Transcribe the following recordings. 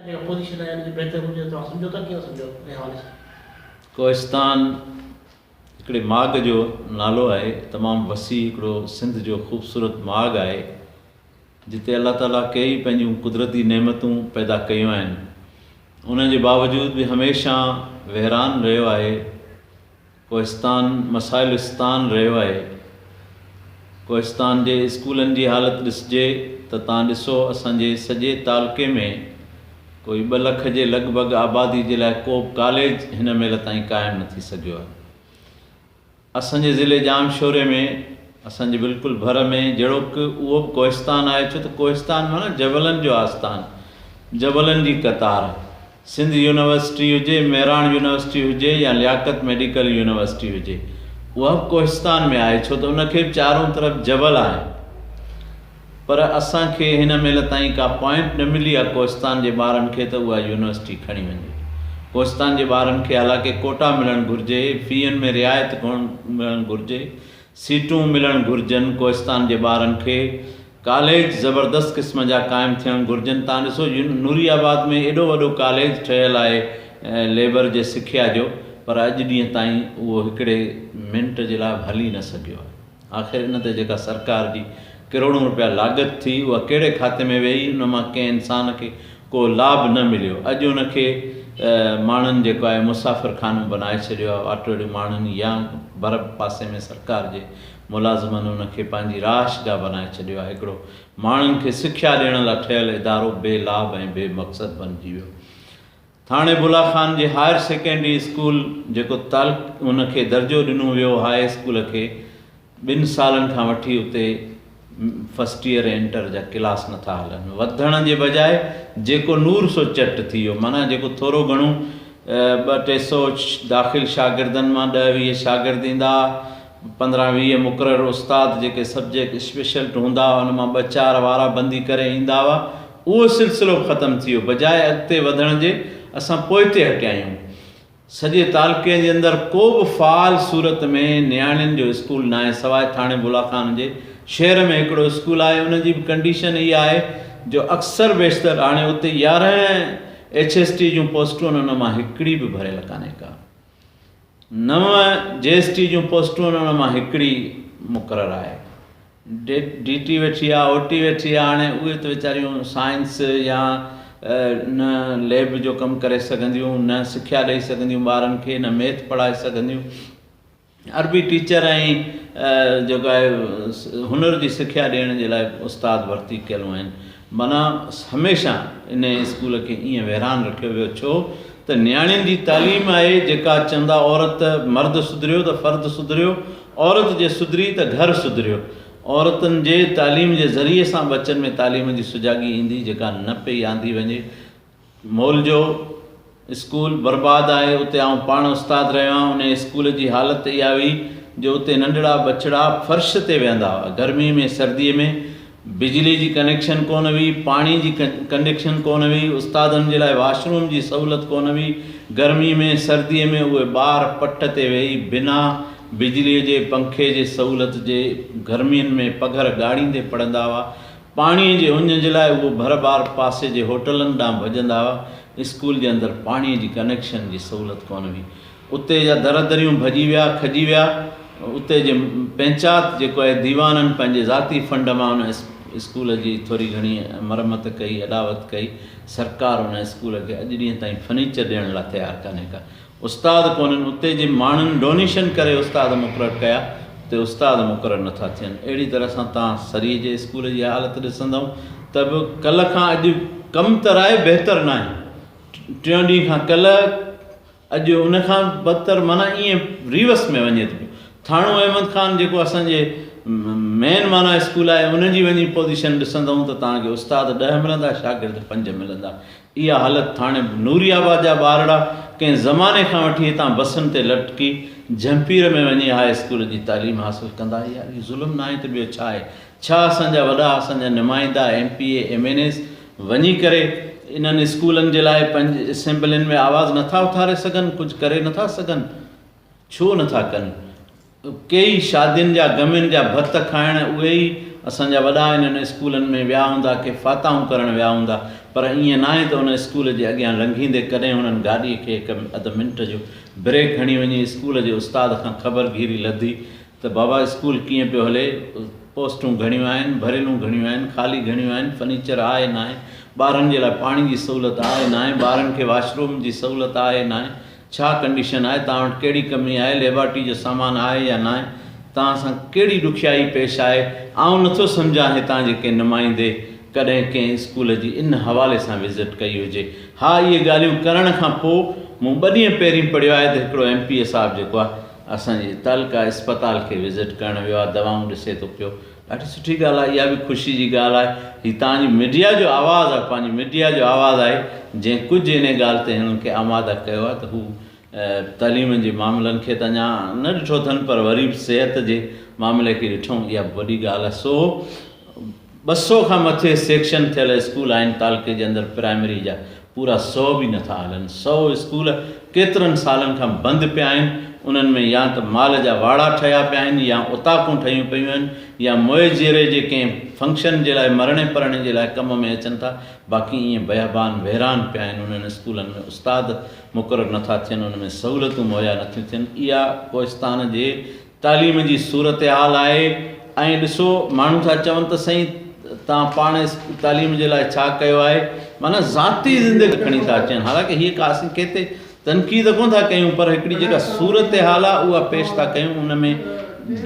جيڪڏهن اپوزيشن ۽ ان جي بهتر هجي ته توهان سمجهوتا ڪيئن سمجهو انهي حوالي سان. ڪوهستان هڪڙي ماڳ جو نالو آهي تمام وسيع هڪڙو سنڌ جو خوبصورت ماڳ آهي جتي الله تعالي ڪيئي پنهنجون قدرتي نعمتون پيدا ڪيون آهن ان جي باوجود به هميشه ويران رهيو آهي ڪوهستان مسائلستان رهيو آهي. ڪوهستان جي اسڪولن جي حالت ڏسجي ته تان ڏسو اسان جي سڄي تعلقي ۾ ڪوئي ٻه لک جي لڳ ڀڳ آبادي جي لاء ڪوبه ڪاليج هن مهل تائين قائم نه ٿي سگهيو آهي. اسان جي ضلعي ڄام شوري ۾ اسان جي بلڪل ڀر ۾ جهڙوڪ اهو به ڪوهستان آهي ڇو ته ڪوهستان معنيٰ جبلن جو آستان جبلن جي قطار. سنڌ يونيورسٽي هجي، مهراڻ يونيورسٽي هجي يا لياقت ميڊيڪل يونيورسٽي هجي اها به ڪوهستان ۾ آهي ڇو ته ان کي به چارون طرف جبل آهن پر اسان کي هن مهل تائين ڪا پوائنٽ نه ملي آهي ڪوهستان جي ٻارن کي ته اها يونيورسٽي کڻي وڃي ڪوهستان جي ٻارن کي حالانڪه ڪوٽا ملڻ گهرجي، فيئن ۾ رعايت ملڻ گهرجي سيٽون ملڻ گهرجن ڪوهستان جي ٻارن کي ڪاليج زبردست قسم جا قائم ٿيڻ گهرجن تان ڏسو نوري آباد ۾ ايڏو وڏو ڪاليج ٺهيل آهي ليبر جي سکيا جو پر اڄ ڏينهن تائين اهو هڪڙي منٽ جي لاء به هلي نه سگهيو آهي آخر ان تي جيڪا سرڪار جي ڪروڙون روپيا لاڳت ٿي اها ڪهڙي کاتي ۾ ويئي ان مان ڪنهن انسان کي ڪو لاڀ نه مليو اڄ ان کي ماڻهن جيڪو آهي مسافر خانو بنائي ڇڏيو آهي آٽوڙي ماڻهن يا ڀر پاسي ۾ سرڪار جي ملازمن ان کي پنهنجي رهائش گاهه بنائي ڇڏيو آهي هڪڙو ماڻهن کي سکيا ڏيڻ لا ٺهيل ادارو بي لاڀ ۽ بي مقصد بنجي ويو ٿاڻي بلا خان جي هائر سيڪنڊري اسڪول جيڪو تعلق ان کي درجو ڏنو ويو هاء اسڪول کي ٻن سالن کان وٺي اتي فرسٽ ايئر ۽ انٽر جا ڪلاس نٿا هلن، وڌڻ جي بجاء جيڪو نور سو چٽ ٿي ويو، معنيٰ جيڪو ٿورو گهڻو ٻه ٽي سو داخل شاگردن مان ڏهه ويهه شاگرد ايندا، پندرهن ويهه مقرر استاد جيڪي سبجيڪٽ اسپيشلٽ هوندا هئا ان مان ٻه چار وارا بندي ڪري ايندا هئا، اهو سلسلو به ختم ٿي ويو، بجاء اڳتي وڌڻ جي اسان پوئتي هٽيا آهيون، سڄي تعلقي جي اندر ڪو به فعال صورت ۾ نياڻين جو اسڪول ناهي سواء ٿاڻي بولا خان جي، شهر ۾ هڪڙو اسڪول آهي ان جي به ڪنڊيشن اها آهي جو اڪثر بيشتر هاڻي اتي يارهن ايڇ ايس ٽي جون پوسٽون ان مان هڪڙي به ڀريل ڪانهي ڪا نو جي ايس ٽي جون پوسٽون ان مان هڪڙي مقرر آهي ڊي ٽي ويٺي آ او ٽي ويٺي آ هاڻي اهي ته ويچاريون سائنس يا نه ليب جو ڪم ڪري سگهنديون نه سکيا ڏئي سگهنديون ٻارن کي نه ميٿ پڙهائي سگهنديون عربي ٽيچر ۽ جيڪو آهي هنر جي سکيا ڏيڻ جي لاء استاد ڀرتي ڪيل آهن معنيٰ هميشه ان اسڪول کي ائين ويران رکيو ويو ڇو ته نياڻين جي تعليم آهي جيڪا چوندا عورت مرد سڌريو ته فرد سڌريو عورت جي سڌري ته گهر سڌريو. عورتن جي تعليم جي ذريعي سان ٻچن ۾ تعليم جي سجاڳي ايندي جيڪا نه پئي آندي وڃي. مئل جو اسڪول برباد آهي اتي آئون پاڻ استاد رهيو آهيان انهي اسڪول جي حالت اها هئي جو اتي ننڍڙا ٻچڙا فرش تي ويهندا هئا گرمي ۾ سردي ۾ بجلي جي ڪنيڪشن ڪونه هئي، پاڻي جي ڪنڊڪشن ڪونه هئي، استادن جي لاء واش روم جي سهولت ڪونه هئي، گرمي ۾ سردي ۾ اهي ٻار پٽ تي ويهي بنا بجلي جي پنکي جي سهولت جي گرمين ۾ پگهر ڳاڙيندي پڙهندا هئا، پاڻي جي اڃ جي لاء اهي ڀر ٻار پاسي جي هوٽلن ڏانهن ڀڄندا هئا، اسڪول جي اندر پاڻي جي ڪنيڪشن جي سهولت ڪونه هئي، اتي جا در دريون ڀڄي ويا، کڄي ويا. اتي جي پنچات جيڪو آهي ديوانن پنهنجي ذاتي فنڊ مان ان اسڪول جي ٿوري گهڻي مرمت ڪئي، اڏاوت ڪئي. سرڪار ان اسڪول کي اڄ ڏينهن تائين فرنيچر ڏيڻ لاء تيار ڪانهي ڪا. استاد ڪونهن. اتي جي ماڻهن ڊونيشن ڪري استاد مقرر ڪيا. اتي استاد مقرر نٿا ٿين. اهڙي طرح سان توهان سري جي اسڪول جي حالت ڏسندئون ته به ڪلهه کان اڄ ڪم ته رائي بهتر ناهي. ٽيون ڏينهن کان ڪلهه اڄ ان کان بدتر معنيٰ ائين ريورس ۾ وڃي ٿو پيو. ٿانو احمد خان جيڪو اسان جي مين معنيٰ اسڪول آهي ان جي وڃي پوزيشن ڏسندئون ته توهان کي استاد ڏهه ملندا شاگرد پنج ملندا. اها حالت ٿاڻي نوري آباد جا ٻارڙا ڪنهن زماني کان وٺي هتان بسن تي لٽڪي جهمپير ۾ وڃي هاء اسڪول جي تعليم حاصل ڪندا. اهي ظلم ناهي ته ٻيو ڇا آهي. ڇا اسان جا وڏا، اسان جا نمائندا، M P A, M N As وڃي ڪري انهن اسڪولن جي لاء پنهنجي اسيمبلين ۾ آواز نه ٿا اٿاري سگهن، ڪجهه ڪري نه ٿا سگهن؟ ڇو نه ٿا ڪن؟ ڪي ئي شادين جا غمين جا ڀت کائڻ اهي ئي اسان جا وڏا انهن اسڪولن ۾ ويا هوندا، ڪي فاتحون ڪرڻ ويا هوندا، پر ائين ناهي ته ان اسڪول جي اڳيان لنگهيندي ڪڏهن هنن گاڏي کي هڪ اڌ منٽ جو بريڪ هڻي وڃي اسڪول جي استاد کان خبر گهيري لڌي ته بابا اسڪول ڪيئن پيو هلي، پوسٽون گهڻيون آهن، ڀريلون گهڻيون آهن، خالي گهڻيون آهن، فرنيچر آهي ناهي، ٻارن جي لاء پاڻي جي سهولت آهي ناهي، ٻارن کي واش روم جي سهولت آهي ناهي، ڇا ڪنڊيشن آهي، توهان وٽ ڪهڙي ڪمي آهي، ليبارٽري جو سامان آهي يا ناهي، توهان سان ڪهڙي ڏکيائي پيش آهي، آئون نٿو سمجهان هتان جي ڪنهن نمائندي ڪڏهن ڪنهن اسڪول جي ان حوالي سان وزٽ ڪئي هجي. ها اهي ڳالهيون ڪرڻ کان پوء مون ٻه ڏينهن پهرين پڙهيو آهي ته هڪڙو ايم پي اي صاحب جيڪو آهي، اسان جي تعلقه اسپتال کي وزٽ ڪرڻ ويو آهي دوائون ڏسي ٿو پيو ڏاڍي سٺي ڳالهه آهي اها به خوشي جي ڳالهه آهي هي توهان جي ميڊيا جو آواز آهي پنهنجي ميڊيا جو آواز آهي جنهن ڪجهه انهي ڳالهه تي هنن کي آماده ڪيو آهي ته هو تعليم جي معاملن کي ته اڃا نه ڏٺو اٿن پر وري به صحت جي معاملي کي ڏٺو اها به وڏي ڳالهه آهي سو ٻه سؤ کان مٿي سيڪشن ٿيل اسڪول آهن، تعلقي جي اندر پرائمري جا پورا سؤ به نٿا هلن، سؤ اسڪول ڪيترن سالن کان بند پيا آهن، انهن ۾ يا ته مال جا واڙا ٺهيا پيا آهن يا اوطاقون ٺهيون پيون آهن يا موئي جيئري جي ڪنهن فنڪشن جي لاء مرڻي پرڻي جي لاء ڪم ۾ اچن ٿا باقي ائين بيابان ويران پيا آهن، انهن اسڪولن ۾ استاد مقرر نٿا ٿين، ان ۾ سهولتون مهيا نٿيون ٿين، اها ڪوهستان جي تعليم جي صورتحال آهي ۽ ڏسو ماڻهو ٿا چون ته سائين توهان پاڻ تعليم جي لاء ڇا ڪيو آهي معنيٰ ذاتي زندگي کڻي ٿا اچن حالانڪه هيء ڪا اسين ڪنهن تي تنقيد ڪونه ٿا ڪيون پر هڪڙي جيڪا صورتحال آهي اها پيش ٿا ڪيون ان ۾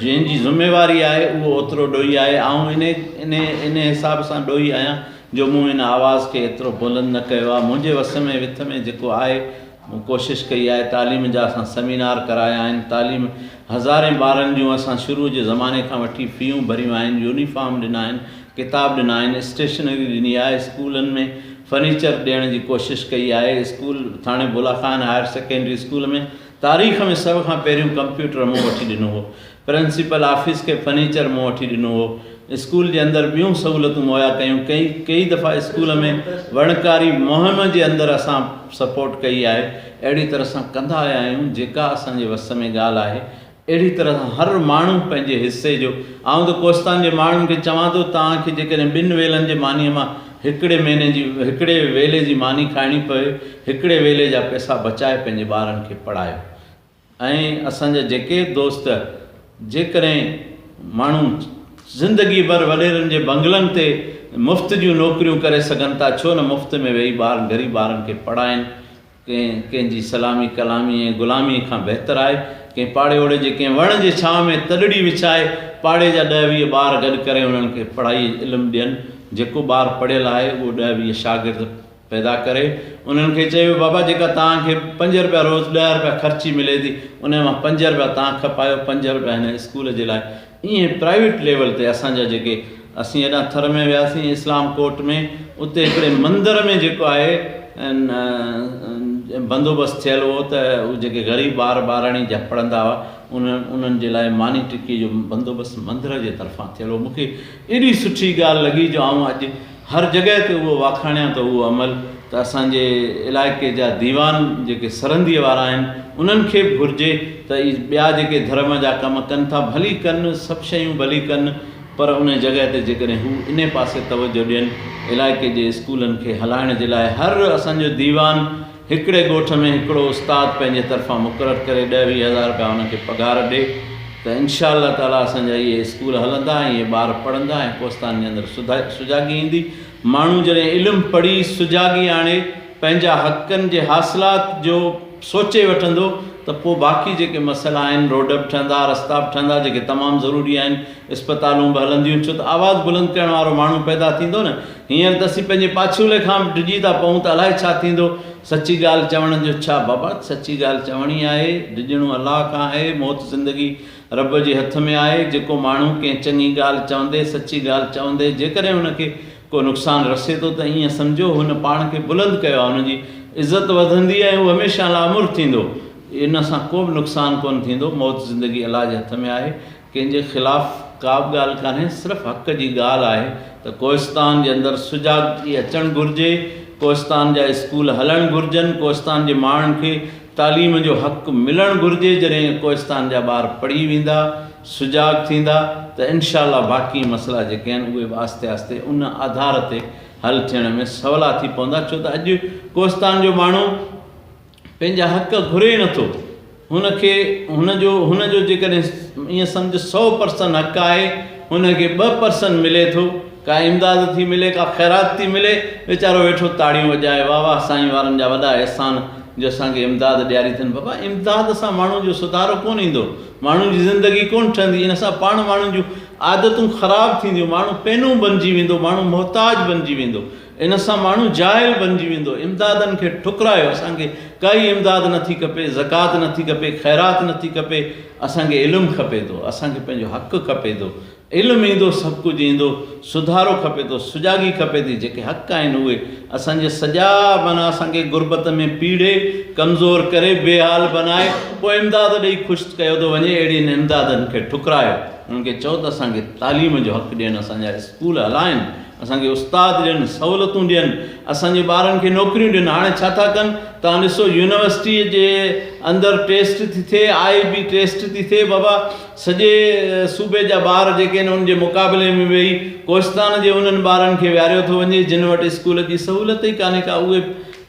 جنهن جي ذميواري آهي اهو اوترو ڏوهي آهي آئون انهي انهي انهي حساب سان ڏوهي آهيان جو مون ان آواز کي ايترو بلند نه ڪيو آهي منهنجي وس ۾ وٿ ۾ جيڪو آهي مون ڪوشش ڪئي آهي تعليم جا اسان سيمينار ڪرايا آهن تعليم هزارين ٻارن جون اسان شروع جي زماني کان وٺي فيون ڀريون آهن يونيفارم ڏنا آهن ڪتاب ڏنا آهن اسٽيشنري ڏني آهي اسڪولن ۾ فرنيچر ڏيڻ جي ڪوشش ڪئي آهي school Thano Bula Khan higher secondary school ۾ تاريخ ۾ سڀ کان پهريون ڪمپيوٽر مون وٺي ڏنو هو پرنسپل آفيس کي فرنيچر مون وٺي ڏنو هو. اسڪول جي اندر ٻيون سهولتون مهيا ڪيون. ڪئين ڪيئي دفعا اسڪول ۾ وڻڪاري مهم جي اندر اسان سپورٽ ڪئي آهي. اهڙي طرح سان ڪندا آيا آهيون جيڪا اسان جي وس ۾ ڳالهه آهي. اهڙي طرح سان هر ماڻهو پنهنجي حصي جو آئون ته ڪوستان جي ماڻهن کي چوان ٿو توهان کي جيڪڏهن ٻن ويلن جي مانيء مان هڪڙي مهيني جي هڪڙي ويلي جي ماني کائڻي پوي هڪڙي ويلي جا پئسا بچائي پنهنجي ٻارن کي پڙهايو. ۽ اسان جا جيڪي دوست جيڪڏهن ماڻهو زندگي ڀر وڏيرن جي بنگلن تي مفت جون نوڪريون ڪري سگهن ٿا ڇو نه مفت ۾ ويهي ٻارن غريب ٻارن کي پڙهائين ڪنهن ڪنهن جي سلامي ڪلامي ۽ غلامي کان بهتر آهي ڪنهن پاڙي اوڙي جي ڪنهن وڻ جي ڇانو ۾ تڏڙي وڇائي پاڙي جا ڏهه ويهه ٻار گڏ ڪري انهن کي پڙهائي علم ڏين جيڪو ٻار پڙهيل آهي اهو ڏهه ويهه شاگرد پيدا ڪري انهن کي چيو بابا جيڪا توهان کي پنج رپيا روز ڏهه رپيا خرچي ملي ٿي انهي مان پنج رپيا توهان کپايو پنج رپيا هن اسڪول جي لاء ائين پرائيوٽ ليول تي اسان جا جيڪي اسين هيڏانهن ٿر ۾ وياسين اسلام ڪوٽ ۾ اتي هڪڙي مندر ۾ جيڪو آهي بندوبست ٿيل هو ته هو جيڪي غريب ٻار ٻاراڻي جا پڙهندا هئا انهن انهن جي لاء ماني ٽڪي جو بندوبست مندر جي طرفان ٿيل هو مون کي ايڏي سٺي ڳالهه لڳي جو آئون اڄ هر جڳهه تي اهو واکاڻيان ته اهو عمل ته اسان جي علائقي جا ديوان جيڪي سرهنديء وارا آهن انهن کي به گهرجي ته اي ٻيا جيڪي ڌرم جا ڪم ڪن ٿا ڀلي ڪن سڀ شيون ڀلي ڪن پر ان جڳهه تي جيڪڏهن هو انهي پاسي توجهه ڏين علائقي جي اسڪولن کي هلائڻ جي لاء هر اسان جو ديوان هڪڙي ڳوٺ ۾ هڪڙو استاد پنهنجي طرفان مقرر ڪري ڏهه ويهه هزار رپيا انهن کي پگهار ڏي ته انشاء الله تعاليٰ اسان جا اهي اسڪول هلندا ۽ اهي ٻار پڙهندا ۽ ڪوستان جي اندر سجاڳي ايندي ماڻهو جڏهن علم پڙهي سجاڳي آڻي پنهنجا حقن جي حاصلات جو سوچي وٺندو ته پوء باقي جيڪي مسئلا آهن روڊ به ٺهندا رستا به ٺهندا جيڪي تمام ضروري آهن اسپتالون به هلنديون ڇو ته آواز بلند ڪرڻ وارو ماڻهو پيدا ٿيندو نه هينئر ته اسين پنهنجي پاڇولي کان به ڊڄي ٿا پئون ته الائي ڇا ٿيندو؟ سچي ڳالهه چوڻ جو ڇا بابا؟ سچي ڳالهه چوڻي آهي. ڊڄڻو الله کان آهي. موت زندگي رب جي هٿ ۾ آهي. جيڪو ماڻهو ڪنهن چڱي ڳالهه چوندي، سچي ڳالهه چوندي جيڪڏهن هن کي ڪو نقصان رسي ٿو ته ائين سمجهو هن پاڻ کي بلند ڪيو آهي. هن جي عزت وڌندي ۽ هو هميشه لاعمر ٿيندو. ان سان ڪو به نقصان ڪونه ٿيندو. موت زندگي الله جي هٿ ۾ آهي. ڪنهن جي خلاف ڪابه ڳالهه ڪانهي صرف حق جي ڳالهه آهي ته ڪوهستان جي اندر سجاڳڪي اچڻ گهرجي ڪوهستان جا اسڪول هلڻ گهرجن ڪوهستان جي ماڻهن کي تعليم جو حق ملڻ گهرجي جڏهن ڪوهستان جا ٻار پڙهي ويندا سجاڳ ٿيندا ته انشاء الله باقي مسئلا جيڪي آهن اهي به آهستي آهستي ان آڌار تي حل ٿيڻ ۾ سولا ٿي پوندا ڇو ته اڄ ڪوهستان جو ماڻهو پنهنجا حق گهري نٿو هن کي هن جو هن جو جيڪڏهن ائين سمجهه سؤ پرسن حق آهي هن کي ٻه پرسن ملي ٿو ڪا امداد ٿي ملي ڪا خيرات ٿي ملي ويچارو ويٺو تاڙيون وڄائي واه واه سائين وارن جا وڏا احسان جو اسان کي امداد ڏياري ٿن بابا امداد سان ماڻهو جو سڌارو ڪونه ايندو ماڻهو جي زندگي ڪونه ٺهندي ان سان پاڻ ماڻهو جون عادتون خراب ٿينديون ماڻهو پينون بنجي ويندو ماڻهو محتاج بنجي ويندو ان سان ماڻهو جاهل بنجي ويندو، امدادن کي ٺڪرايو، اسان کي ڪائي امداد نه ٿي کپي، زڪوات نه ٿي کپي، خيرات نه ٿي کپي، اسان کي علم کپي ٿو، اسان کي پنهنجو حق کپي ٿو، علم ايندو سڀ ڪجهه ايندو، سڌارو کپي ٿو، سجاڳي کپي ٿي، جيڪي حق آهن اهي، اسان جي سڄا معنيٰ اسان کي غربت ۾ پيڙهي، ڪمزور ڪري، بي حال بنائي، پوء امداد ڏئي خوش ڪيو ٿو وڃي، اهڙين امدادن کي ٺڪرايو، انهن کي چئو ته اسان کي تعليم جو حق ڏين، اسان جا اسڪول هلائين، اسان کي استاد ڏين، سهولتون ڏين، اسان جي ٻارن کي نوڪريون ڏين، هاڻي ڇا ٿا ڪن؟ توهان ڏسو يونيورسٽيء جي اندر ٽيسٽ ٿي ٿئي، آء بي ٽيسٽ ٿي ٿئي، بابا سڄي صوبي جا ٻار جيڪي آهن ان جي مقابلي ۾ ويهي ڪوهستان جي انهن ٻارن کي ويهاريو ٿو وڃي جن وٽ اسڪول جي سهولت ئي ڪانهي ڪا اهي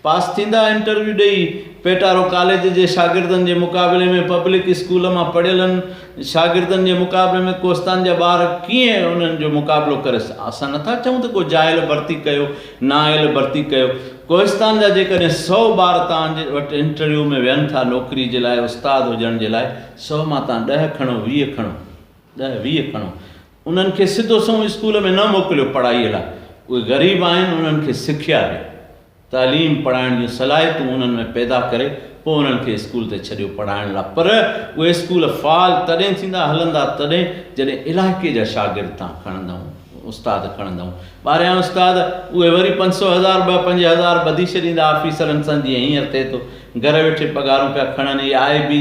پاس ٿيندا انٽرويو ڏئي پيٽارو ڪاليج جي شاگردن جي مقابلي ۾ پبلڪ اسڪول مان پڙهيلن شاگردن جي مقابلي ۾ ڪوستان جا ٻار ڪيئن انهن جو مقابلو ڪري سگهن؟ اسان نٿا چئون ته ڪو جاهل ڀرتي ڪيو، نااهل ڀرتي ڪيو. ڪوستان جا جيڪڏهن سؤ ٻار توهان وٽ انٽرويو ۾ ويهن ٿا نوڪري جي لاء استاد هجڻ جي لاء، سؤ مان توهان ڏهه کڻو، ويهه کڻو، ڏهه ويهه کڻو. انهن کي سڌو سنئون اسڪول ۾ نه موڪليو پڙهائيء لاء. اهي غريب آهن، انهن کي سکيا ڏيو. تعليم پڙهائڻ جون صلاحيتون انهن ۾ پيدا ڪري پوء انهن کي اسڪول تي ڇڏيو پڙهائڻ لاء پر اهي اسڪول فعال تڏهن ٿيندا هلندا تڏهن جڏهن علائقي جا شاگرد تان کڻندائون استاد کڻندائون ٻاريان استاد اهي وري پنج سو هزار ٻه پنج هزار ٻڌي ڇڏيندا آفيسرن سان جيئن هينئر ٿئي ٿو گهر ويٺي پگهارون پيا کڻن اهي آء بي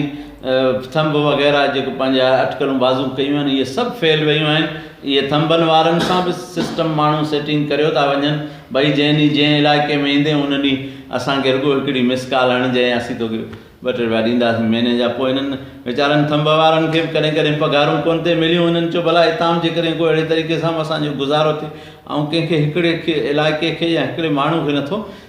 ٿنب وغيره جيڪو پنهنجا اٽڪلون بازو ڪيون آهن اهي سڀ فيل ويون آهن اهي ٿنبن وارن سان به سسٽم ماڻهو سيٽنگ ڪريو ٿا وڃن ڀئي جنهن ڏينهن جنهن علائقي ۾ ايندين ان ڏينهن اسان کي رڳو هڪڙي مس ڪال هڻجئين اسين توکي ٻه ٽي رپيا ڏينداسين مهيني جا پوء هنن ويچارن ٿنب وارن کي به ڪڏهن ڪڏهن پگهارون ڪونه ٿي مليون هنن چيو ڀلا هتان به جيڪڏهن ڪو اهڙي طريقي سان به اسان جو گذارو ٿي آئون ڪنهن کي هڪڙي کي علائقي کي يا هڪڙي ماڻهو کي نٿو